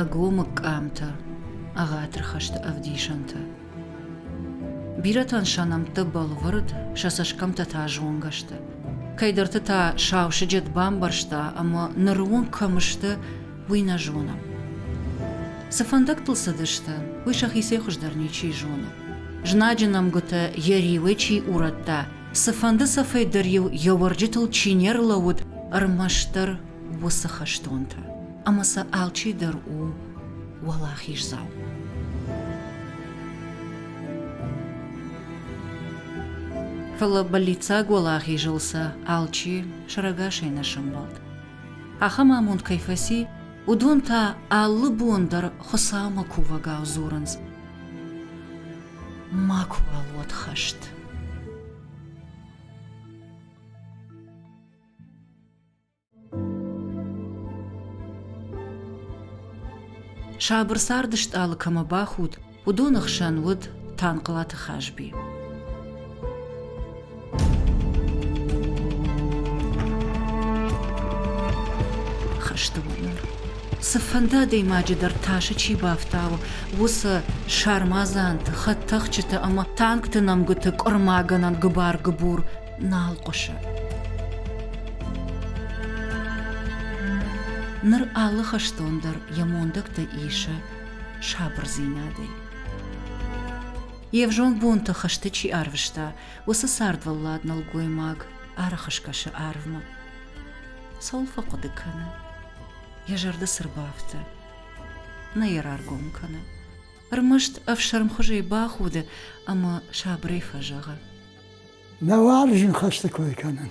ӕгомыг къамтӕ, ӕгъатыр хӕсты ӕвдисӕнтӕ. Бирӕтӕн сӕ нӕмттӕ бӕлвырд, сӕ цӕсгӕмтӕ та зонгӕ сты. Кӕйдӕрты та сау сыджыт бамбӕрста, ӕмӕ ныры онг кӕм сты, уый нӕ зонӕм. Цы фӕндӕгтыл цыдысты, уый сӕхицӕй хуыздӕр ничи зоны. Знаджы нӕмгуытӕ йӕ риуӕй чи урӕдта, цыфӕнды цӕфӕй дӕр-иу йӕ уӕрджытыл чи не рлӕууыд, ӕрмӕстдӕр уыцы хӕстонтӕ, ӕмӕ сӕ алчи дӕр у уӕлахиздзау. Фӕлӕ бӕллиццаг уӕлахизыл сӕ алчи сӕрӕгасӕй нӕ сӕмбӕлд. ахӕм амонд кӕй фӕци, уыдон та алы бон дӕр Хуыцаумӕ кувӕгау дзурынц. Макуыуал уӕд хӕст. сабыр царды стъалы кӕмӕ бахуд, уыдоны хсӕн уыд Танхълаты Хазби. хӕсты уынӕр. Цыфӕнды адӕймаджы дӕр тасы чи бафтауы, уыцы сармадзанты, хӕдтӕхджыты ӕмӕ танкты нӕмгуыты къуырмагӕнӕн гыбар-гыбур нал хъуысы. Ныр алы хӕстон дӕр йӕ мондӕгтӕ исы сабырдзинадӕй. Йе взонг бонты хызты чи арвыста, уыцы цардвӕллад нӕлгоймаг арахы скӕсы арвмӕ. Цӕуыл фӕхъуыды кӕны? Йӕ зӕрды цы рбафты? Нӕ йӕ раргом кӕны. Ӕрмӕст ӕфсӕрмхуызӕй бахуды ӕмӕ сабырӕй фӕзӕгъы. Нӕ уарзын хӕсты кой кӕнын.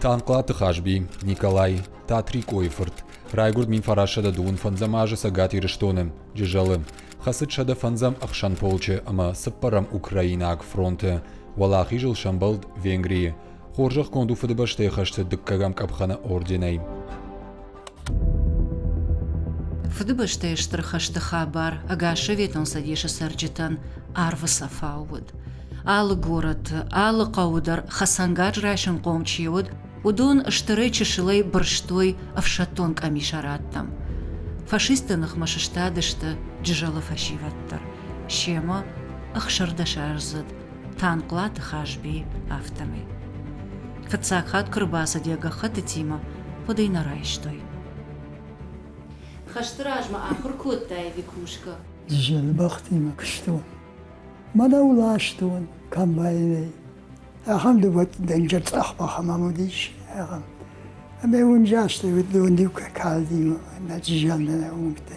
Танхълаты Хазби, Николай, Татрикъойы фырт, райгуырд мин фарасӕдӕ дыууын фӕндзӕм азы Цӕгат Ирыстоны, Джызӕлы. Хӕцыд сӕдӕ фӕндзӕм ӕхсӕн полчы ӕмӕ цыппӕрӕм украинаг фронты. Уӕлахизыл сӕмбӕлд Венгрийы. Хорзӕхгонд у Фыдыбӕстӕйы хӕсты дыккӕгӕм къӕпхӕны орденӕй. Фыдыбӕстӕйы Стыр хӕсты хабар ӕгас Советон Цӕдесы цӕрджытӕн арвы цӕфау уыд. Алы горӕты, алы хъӕуы дӕр хӕцӕнгарз райсынхъом чи уыд, уыдон стырӕй чысылӕй бырстой ӕфсӕддон къамисараттӕм. Фашистты ныхмӕ сыстадысты Джызӕлы фӕсивӕд дӕр. Семӕ ӕхсӕрдӕсаздзыд Танхълаты Хазби, афтӕмӕй. Фыццаг хатт куы рбацыд йӕ гӕххӕттытимӕ, хъуыд ӕй нӕ райстой. Хӕсты размӕ ахуыр кодтай, Викушка? Зелбахтимӕ куыстон. Мӕнӕ ластон комбайнӕй. Ахӕм дывӕтдӕнджа цъӕхбах ӕмӕ уыдис ахӕм. Ӕмӕ уын застӕй уыдон иу калдимӕ, нӕ зиандӕ уынгтӕ.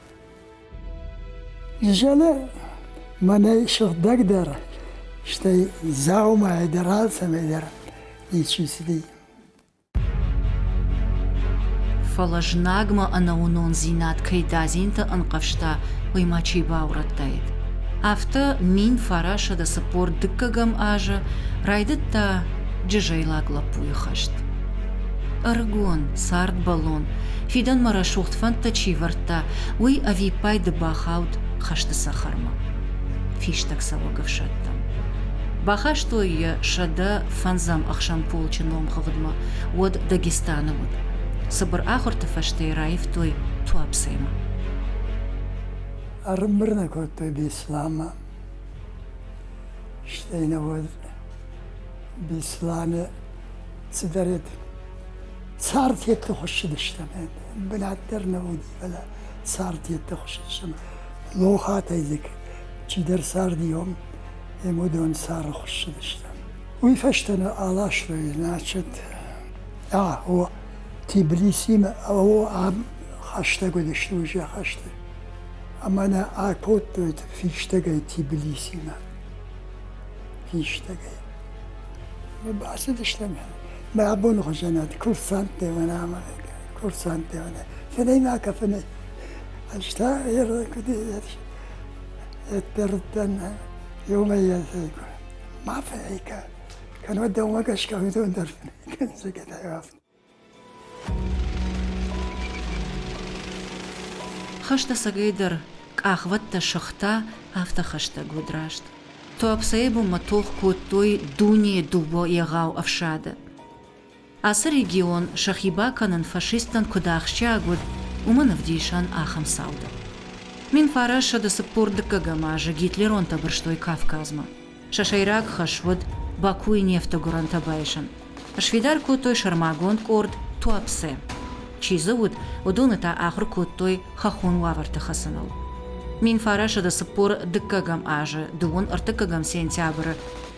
Изӕле мӕнӕй сыгъдӕгдӕр, стӕй дзаумайӕ дӕр алцӕмӕй дӕр ничи цыди. Фӕлӕ знагмӕ ӕнӕуынондзинад кӕй дадзинты ӕнхъӕвзта, уый ма чи баурӕдтаид. Афтӕ мин фарасӕдӕ цыппор дыккӕгӕм азы райдыдта джызӕйлаг лӕппуйы хӕст. Ӕрыгон, цардбӕллон, фидӕнмӕ рӕсугъд фӕндтӕ чи вӕрдта, уый ӕвиппайды бахауд хӕсты цӕхӕрмӕ. Фистӕгцӕуӕг ӕфсӕдтӕм. Бахастой йӕ сӕдӕ фӕндзӕм ӕхсӕн полчы номхыгъдмӕ, уӕд Дагестаны уыд. Цыбыр ахуырты фӕстӕ йӕ раивтой Туапсӕмӕ. Ӕрымбырд кодтой Беслӕмӕ. Стӕй нӕ уӕд Беслӕны Цыдӕр цартетты хуыссыдыстӕм, бынат дӕр нӕ уыди, фӕлӕ цартетты хуыссыдыстӕм. Лохатӕй дзы чидӕр цардиом, уыдон цары хуыссыдыстӕм. Уый фӕстӕ нӕ аластой, значит, о Тбилисимӕ о ам хӕстӕг уыдысты уже хӕсты. Ӕмӕ нӕ акодтой фистӕгӕй Тбилисимӕ. Фистӕгӕй. Бацыдыстӕм мӕ абоны хуызӕнад курсанттемӕ ӕмӕ курсанттемӕ. Фӕлӕ ма кафыны ӕз та ӕппӕрдтӕн иумӕйаг ма фӕкӕ. Кӕнӕ дӕумӕ гӕсгӕ уыдон дӕр фӕкӕнынц кафын. Хӕстӕцӕгӕйдӕр къахвӕдтӕ сыгъта, афтӕ хӕстӕг уыд раст. Туапсӕйы бонмӕ тох кодтой дунейы дыууӕ егъау ӕфсады. Ацы регион сӕхи бакӕнын фашисттӕн куыд ахсджиаг уыд, уымӕн ӕвдисӕн ахӕм цаудӕн. Мин фарӕссӕды цыппор дыккӕгӕм азы гитлеронтӕ бырстой Кавказмӕ. Сӕ сӕйраг хӕс уыд Бакуйы нефты гуырӕнтӕ байсын. Сфидар кодтой сӕрмагонд къорд Туапсе. Чи дзы уыд, уыдоны та ахуыр кодтой хӕххон уавӕрты хӕцыныл. Минфарасады цыппор дыккӕгӕм азы дыууын ӕртыккӕгӕм сентябры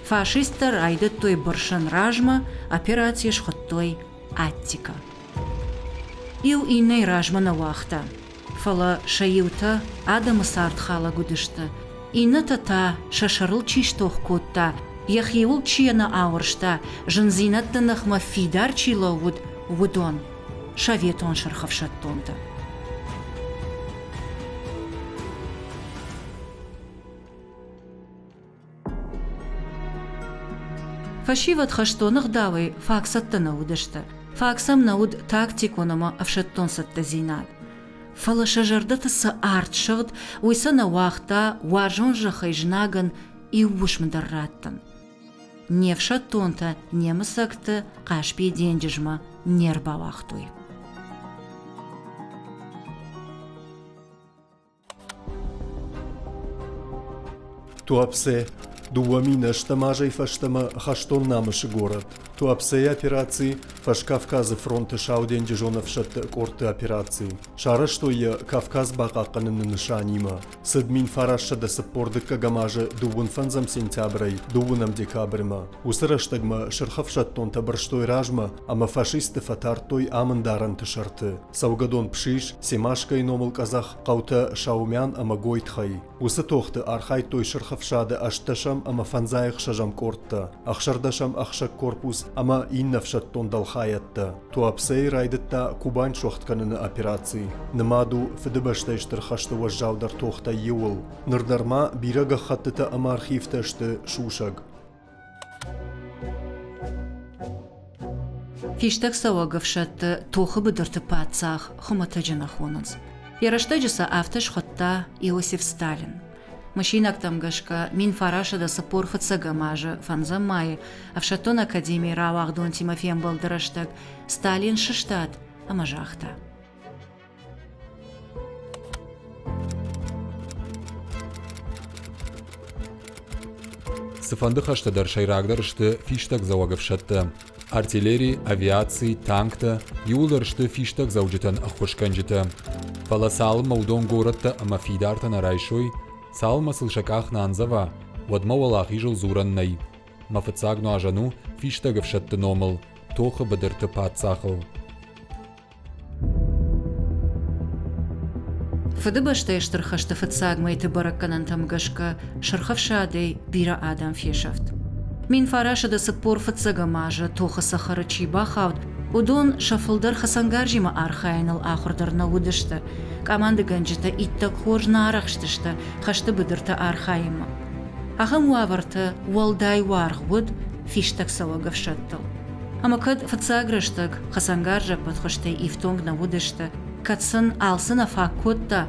фашисттӕ райдыдтой бырсын размӕ, операци схуыдтой Аттика. Иу иннӕйы размӕ нӕ уагъта, фӕлӕ сӕ иутӕ адӕмы цардхалӕг уыдысты, иннӕтӕ та, сӕ сӕрыл чи стох кодта, йӕхиуыл чи нӕ ауӕрста, зындзинӕдты ныхмӕ фидар чи лӕууыд, уыдон, советон сырхӕфсӕддонтӕ. Фӕсивӕд хӕстоны гъдауӕй фаг цӕттӕ нӕ уыдысты. Фаг сӕм нӕ уыд тактикон ӕмӕ ӕфсӕддон цӕттӕдзинад. Фӕлӕ сӕ зӕрдӕты цы арт сыгъд, уый сӕ нӕ уагъта уарзон зӕххӕй знагӕн иу уысм дӕр раттын. Не фсӕддонтӕ немыцӕгты Хъаспийы денджызмӕ не рбауагътой. Туапсе – дыууӕ минӕстӕм азӕй фӕстӕмӕ хӕстон намысы горӕт. Туапсейы операци Фӕскавказы фронты Сау денджызон ӕфсӕдты къордты операци. Сарӕзтой йӕ Кавказ бахъахъхъӕныны нысанимӕ. Цыд мин фарассӕдӕ цыппор дыккӕгӕм азы дыууын фӕндзӕм сентябрӕй дыууынӕм декабрьмӕ. Уыцы рӕстӕгмӕ сырх ӕфсӕддонтӕ бырстой размӕ ӕмӕ фашистты фӕтардтой амындарӕнты сӕрты. Цӕугӕдон Пшис, Семашкӕйы номыл къӕдзӕх хъӕутӕ Шаумян ӕмӕ Гойтхӕй. Уыцы тохты архайдтой сырх ӕфсады ӕстдӕсӕм ӕмӕ фӕндзайӕхсӕзӕм къордтӕ, ӕхсӕрдӕсӕм ӕхсӕг корпус ӕмӕ иннӕ ӕфсӕддон дӕлхайӕдтӕ. Туапсей райдыдта Кубань суӕгъд кӕныны операци. Нымад у Фыдыбӕстӕйы Стыр хӕсты уӕззаудӕр тохтӕй иуыл. Ныр дӕр ма бирӕ гӕххӕттытӕ ӕмӕ архивтӕ сты сусӕг. Фистӕгцӕуӕг ӕфсӕдтӕ тохы быдырты паддзах хуымӕтӕджы нӕ хонынц. Йӕ рӕстӕджы сӕ афтӕ схуыдта Иосиф Сталин. Мысинӕгтӕм гӕсгӕ, мин фарасӕдӕ цыппор фыццӕгӕм азы фӕндзӕм майы ӕфсӕддон академийы рауагъдонтимӕ фембӕлды рӕстӕг Сталин сыстад ӕмӕ загъта: Цыфӕнды хӕстӕ дӕр сӕйрагдӕр сты фистӕгдзӕуӕг ӕфсӕдтӕ. Артиллери, авиаци, танктӕ иууылдӕр сты фистӕгдзӕуджытӕн ӕххуысгӕнджытӕ. Фӕлӕ цалынмӕ уыдон горӕттӕ ӕмӕ фидартӕ нӕ райсой, цалынмӕ сыл сӕ къах нӕ андзӕва, уӕдмӕ уӕлахизыл дзурӕн нӕй. Мӕ фыццаг нуазӕн у фистӕг ӕфсӕдты номыл, тохы быдырты паддзахыл. Фыдыбӕстӕйы Стыр хӕсты фыццаг мӕйты бӕрӕггӕнӕнтӕм гӕсгӕ Сырх Ӕфсадӕй бирӕ адӕм фесӕфт. Мин фарасады цыппор фыццӕгӕм азы тохы цӕхӕры чи бахауд, уыдон сӕ фылдӕр хӕцӕнгарзимӕ архайыныл ахуыр дӕр нӕ уыдысты. Къамандыгӕнджытӕ иттӕг хорз нӕ арӕхстысты хӕсты быдырты архайынмӕ. Ахӕм уавӕрты уӕлдай уаргъ уыд фистӕгцӕуӕг ӕфсӕдтыл. Ӕмӕ кӕд фыццаг рӕстӕг хӕцӕнгарзӕппӕт хуызтӕй ифтонг нӕ уыдысты, кӕд сын алцы нӕ фаг кодта,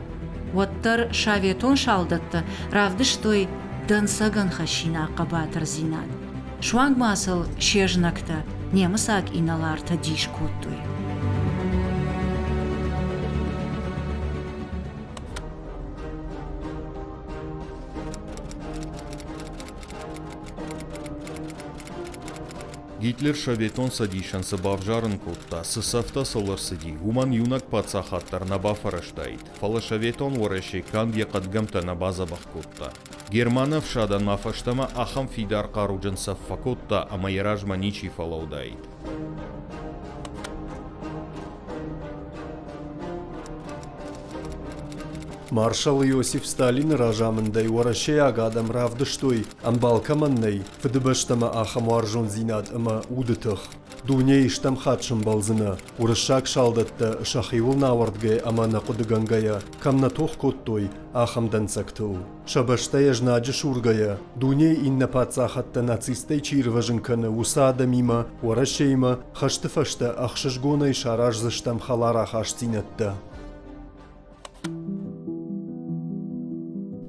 уӕддӕр советон салдӕттӕ равдыстой дӕнцӕгӕн хӕссинаг хъӕбатырдзинад. Суанг ма сыл се знӕгтӕ немыцаг инӕлартӕ дис кодтой. Гитлер Советон Цӕдисӕн цы бавзарын кодта, цы цӕфтӕ сыл ӕрцыди, уымӕн иунӕг паддзахад дӕр нӕ бафӕрӕзтаид, фӕлӕ Советон Уӕрӕсе канд йӕ хъӕдгӕмтӕ нӕ бадзӕбӕх кодта. Германы ӕфсадӕн ма фӕстӕмӕ ахӕм фидар хъаруджын цӕф фӕкодта ӕмӕ йӕ размӕ ничи фӕлӕуыдаид. Маршал Иосиф Сталины разамындӕй уӕрӕсейаг адӕм равдыстой, ӕмбал кӕмӕн нӕй, Фыдыбӕстӕмӕ ахӕм уарзондзинад ӕмӕ уды тых дунейы стӕм хатт сӕмбӕлдзынӕ, уырыссаг салдӕттӕ сӕхиуыл нӕ ауӕрдгӕйӕ ӕмӕ нӕ хъуыдыгӕнгӕйӕ кӕм нӕ тох кодтой, ахӕм дӕнцӕгтыл. Сӕ бӕстӕйӕ знаджы сургӕйӕ, дунейы иннӕ паддзахадтӕ нацисттӕй чи ирвӕзын кӕны, уыцы адӕмимӕ, Уӕрӕсеимӕ хӕсты фӕстӕ ӕхсызгонӕй сараздзыстӕм хӕларахастдзинӕдтӕ.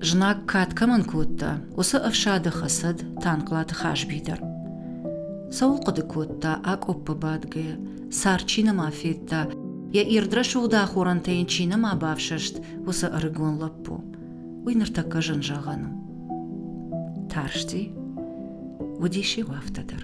Знаг кад кӕмӕн кодта, уыцы ӕфсады хӕцӕд Танхълаты Хазби дӕр. Цӕуыл хъуыды кодта, акъоппы бадгӕйӕ, цар чи нӕма федта, йӕ ирд рӕсугъд ахорӕнтӕ йын чи нӕма бафсӕст, уыцы ӕрыгон лӕппу. Уый ныртӕккӕ зын зӕгъӕн у. Тарсти, уыдис иу афтӕ дӕр.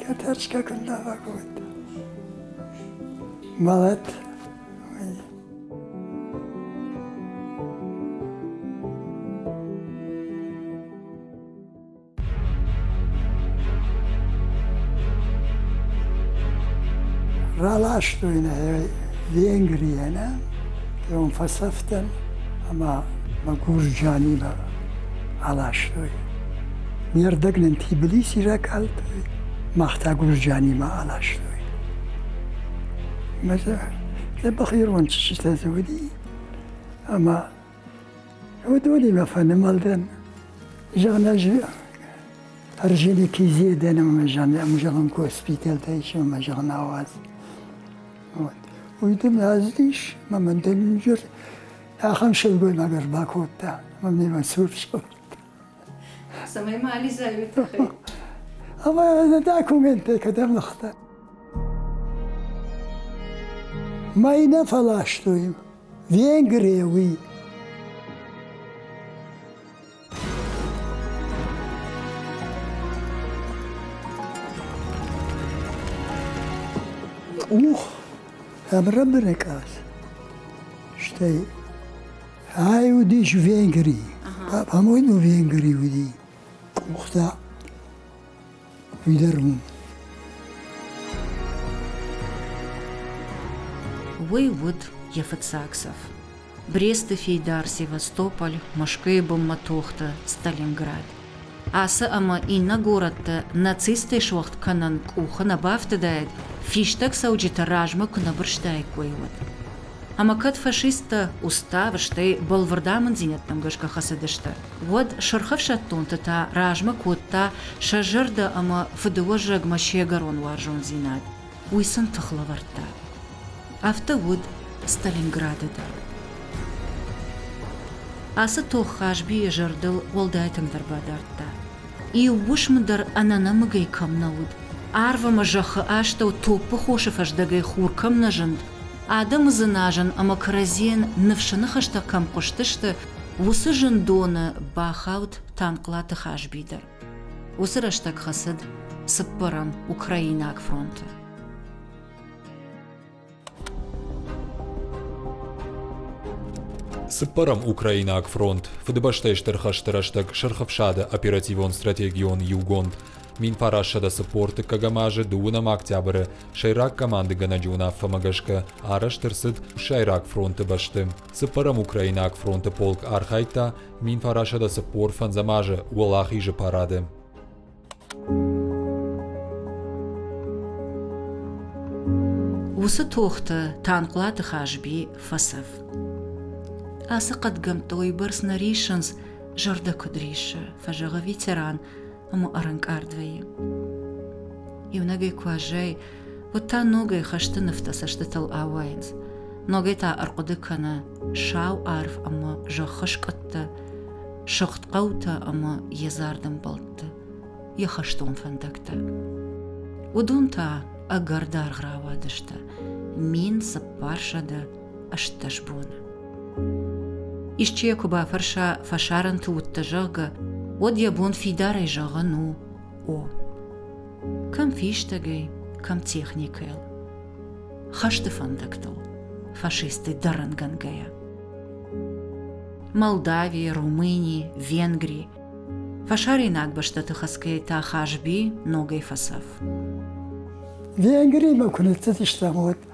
Кӕтӕрсгагӕн давӕг уыд. Мӕлӕт Раластой нӕ Венгриянӕн, он фасафтан, ама ма Гурджаниба аластой. Ме рдӕг нын Тбилиси ракалдтой, мах та Гурджанимӕ аластой. Мӕ дзӕбӕх ирон чызджытӕ дзы уыди, ӕмӕ уыдонимӕ фӕнымӕлдӕн. Зӕгъын, ӕз ӕрзыди Кизедӕн ӕмӕ зӕгъын госпиталтӕ ис ӕмӕ зӕгъын ауадз. Уый дын ӕздис, ӕмӕ мын дын ахӕм сылгоймаг ӕрбакодта, ӕмӕ мемӕ цур скъуыдта. цӕмӕй ма ализӕуй тыххӕй ӕмӕ документтӕ кӕдӕм лыгъта мӕй нӕ фӕластой венгрия уый ух ӕбрабыры къаз стӕй Ай уыдис Венгрий, по-моему, Венгрий уыди къухтӕ уый дӕр уым. Уый уыд йӕ фыццаг цӕф. Бресты фейдар, Севастополь, Мӕскуыйы бынмӕ тохты Сталинград. Ацы ӕмӕ иннӕ горӕтты нацисттӕй суӕгъд кӕнын къухы нӕ бафтыдаид, фистӕгцӕуджыты размӕ куы нӕ бырстаиккой, уӕд. Ӕмӕ кӕд фашисттӕ устав, стӕй бӕлвырд амынддзинӕдтӕм гӕсгӕ хӕцыдысты, уӕд сырх ӕфсӕддонты та размӕ кодта сӕ зӕрдӕ ӕмӕ фыдыуӕзӕгмӕ се гӕрон уарзондзинад. уый сын тых лӕвӕрдта. Афтӕ уыд Сталинграды дӕр. Ацы тох Хазбийы зӕрдыл уӕлдай тынгдӕр бадардта. Иу уысм дӕр ӕнӕнӕмыгӕй кӕм нӕ уыд, арв ӕмӕ зӕххы астӕу топпы хосы фӕздӕгӕй хур кӕм нӕ зынд, адӕмы дзыназын ӕмӕ кӕрӕдзийӕн ныфсы ныхӕстӕ кӕм хъуыстысты, уыцы зындоны бахауд Танхълаты Хазби дӕр. Уыцы рӕстӕг хӕцыд цыппӕрӕм украинаг фронты. Цыппӕрӕм украинаг фронт Фыдыбӕстӕйы Стыр хӕсты рӕстӕг Сырх Ӕфсады оперативон-стратегион иугонд Минфарасшӕдӕ цыппор тыккӕгӕм азы дыууынӕм октябры сӕйраг командыгӕнӕджы уынаффӕмӕ гӕсгӕ арӕзт ӕрцыд Сӕйраг фронты бӕсты. Цыппӕрӕм украинаг фронты полк архайдта мин фарасӕдӕ цыппор фӕндзӕм азы уӕлахизы парады. Уыцы тохты Танхълаты Хазби фӕцӕф. Ацы хъӕдгӕмтты уыйбӕрц нӕ риссынц, зӕрдӕ куыд риссы, фӕзӕгъы ветеран, ӕма ӕрӕнкъард вӕййы. Иунӕгӕй куы аззайы, уӕд та ногӕй хӕсты нывтӕ цӕстытыл ауайынц. Ногӕй та ӕрхъуыды кӕны сау арв ӕмӕ зӕххы скъуыдтӕ, сыгъд хъӕутӕ ӕмӕ йедзардым бӕлтты, йӕ хӕстон фӕндӕгтӕ. Уыдон та ӕгӕр даргъ рауадысты, мин цыппар сӕдӕ ӕстдӕс боны. Исчи йӕ куы бафӕрса, фӕсарӕнты уыдтӕ, зӕгъгӕ, уӕд йӕ бон фидарӕй зӕгъын у о. Кӕм фистӕгӕй, кӕм техникӕйыл. Хӕсты фӕндӕгтыл, фашисты дӕрӕнгӕнгӕйӕ. Молдави, Румыни, Венгри. Фӕсарӕйнаг бӕстӕты хӕцгӕйӕ та Хазби ногӕй фӕцӕф. Венгриймӕ куы ныццыдыстӕм, уӕд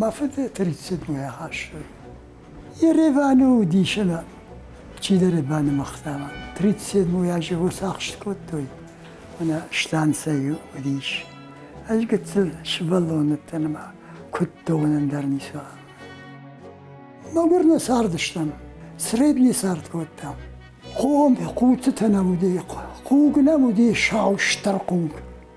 мӕ фыды тридцатмӕ ахӕссы. Ереваны уыдисына чидӕр банымыгъта мӕ. Тридцатмӕ аджы уцахст кодтой, мӕнӕ станцӕйы уыдис. Ӕз гыццыл сывӕллоныттӕ нымӕ куыддонӕн дӕр ницы уа. Мӕгуыр нӕ цардыстӕм, сред не цард кодтам. Хом, хъуцытӕ нӕм уыди, хъуг нӕм уыди, сау стыр хъуг.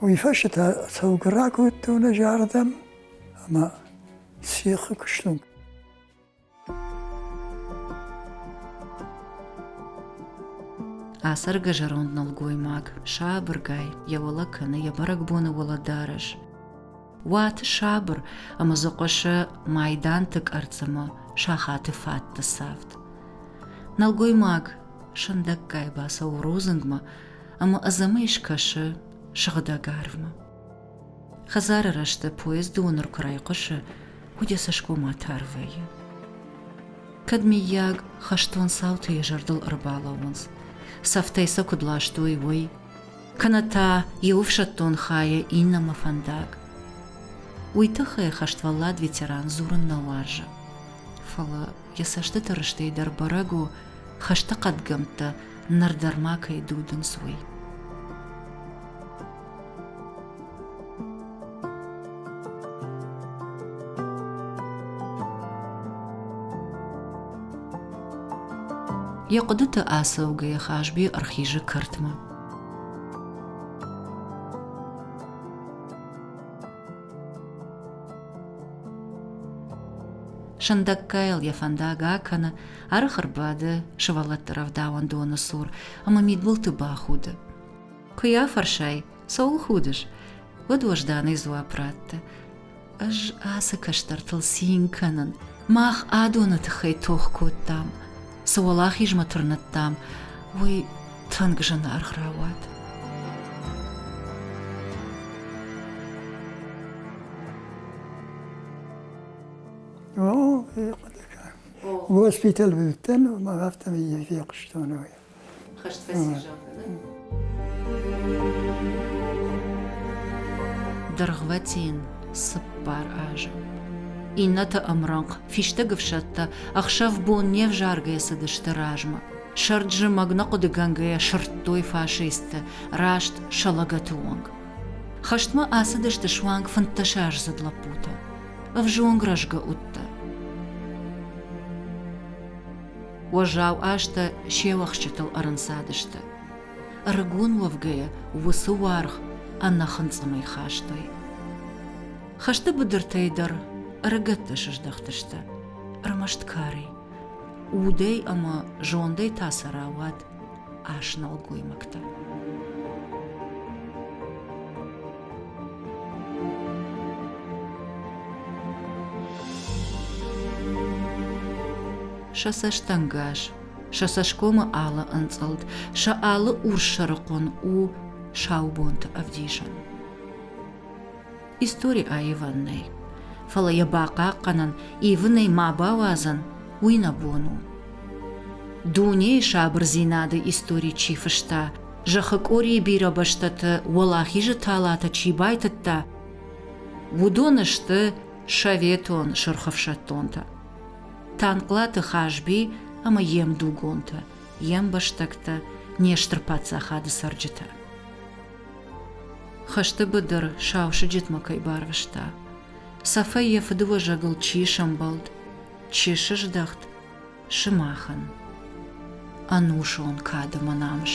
Уый фӕстӕ та цӕугӕрак уыдтон ӕз ардӕм ӕмӕ сихы куыстон. Ацӕргӕ зӕронд нӕлгоймаг сабыргай йӕ уӕлӕ кӕны йӕ бӕрӕгбоны уӕлӕдарӕс. Уаты сабыр ӕмӕ дзы хъуысы майданты къӕрцымы сахаты фӕтты цавд. Нӕлгоймаг сындӕггай бацӕуы рудзынгмӕ, ӕмӕ ӕдзӕмӕй скӕсы сыгъдӕг арвмӕ. Хӕдзары рӕзты поезды уыныр куы райхъуысы, уыд йӕ цӕсгомат арвӕй. Кӕд, миййаг, хӕстон цауты йӕ зӕрдыл ӕрбалӕууынц, цӕфтӕй сӕ куыд ластой, уый, кӕнӕ та йӕ ӕфсӕддон хайӕ иннӕмӕ фӕндаг. Уый тыххӕй хӕствӕллад ветеран дзурын нӕ уарзы. Фӕлӕ йӕ цӕстыты рыстӕй дӕр бӕрӕг у, хӕсты хъӕдгӕмттӕ ныр дӕр ма кӕй дудынц, уый. Йӕ хъуыдыты ацӕугӕйӕ Хазби ӕрхизы кӕртмӕ. Сындӕггайыл йӕ фӕндаг акӕны, ӕрых ӕрбады сывӕллӕтты рӕвдауӕндоны цур ӕмӕ мидбылты бахуды. Куы йӕ афӕрсай, цӕуыл худыс, уӕд уӕзданӕй дзуапп ратты. Ӕз ацы кӕстӕртыл цин кӕнын. Мах адоны тыххӕй тох кодтам. Цы уӕлахизмӕ тырныдтам, уый тынг зынаргъ рауад. О, Госпитал быдтан, мавартам ие фехъуыстон. Хӕст фӕсизӕм. Дыргъвӕтин цыппар азы. Иннӕты ӕмрӕнхъ фистӕг ӕфсӕдтӕ ӕхсӕв-бон не взаргӕйӕ цыдысты размӕ. Сӕрд зымӕг нӕ хъуыдыгӕнгӕйӕ сырдтой фашисттӕ, раст сӕ лӕгӕты онг. Хӕстмӕ ацыдысты суанг фынддӕсаздзыд лӕппутӕ. ӕвзонг рӕзгӕ удтӕ. Уӕззау азтӕ се уӕхсчытыл ӕрынцадысты. Ӕрыгон уӕвгӕйӕ уыцы уаргъ ӕнӕхынцъымӕй хастой. Хӕсты быдыртӕй дӕр ӕрыгӕттӕ сыздӕхтысты. Ӕрмӕст кари. Удӕй ӕмӕ зондӕй та сӕ рауад ӕснӕлгоймӕгтӕ. Сӕ цӕстӕнгас, сӕ цӕсгомы алы ӕнцъылд, сӕ алы урс сӕрыхъуын у саубонты ӕвдисӕн. истори аивӕн нӕй. Фӕлӕ йӕ бахъахъхъӕнын, ивын ӕй ма бауадзын, уый нӕ бон у. Дунейы сабырдзинады истори чи фыста, зӕххы къорийы бирӕ бӕстӕты уӕлахизы талатӕ чи байтыдта, уыдон сты советон сырхӕфсӕддонтӕ. Танхълаты Хазби ӕмӕ йе мдугонтӕ, йе мбӕстӕгтӕ, не стыр паддзахады цӕрджытӕ. Хӕсты быдыр сау сыджытмӕ кӕй барвыста, цӕфӕй йӕ фыдыуӕзӕгыл чи сӕмбӕлд, чи сыздӕхт сымахӕн, ӕнусон кады мӕ намыс.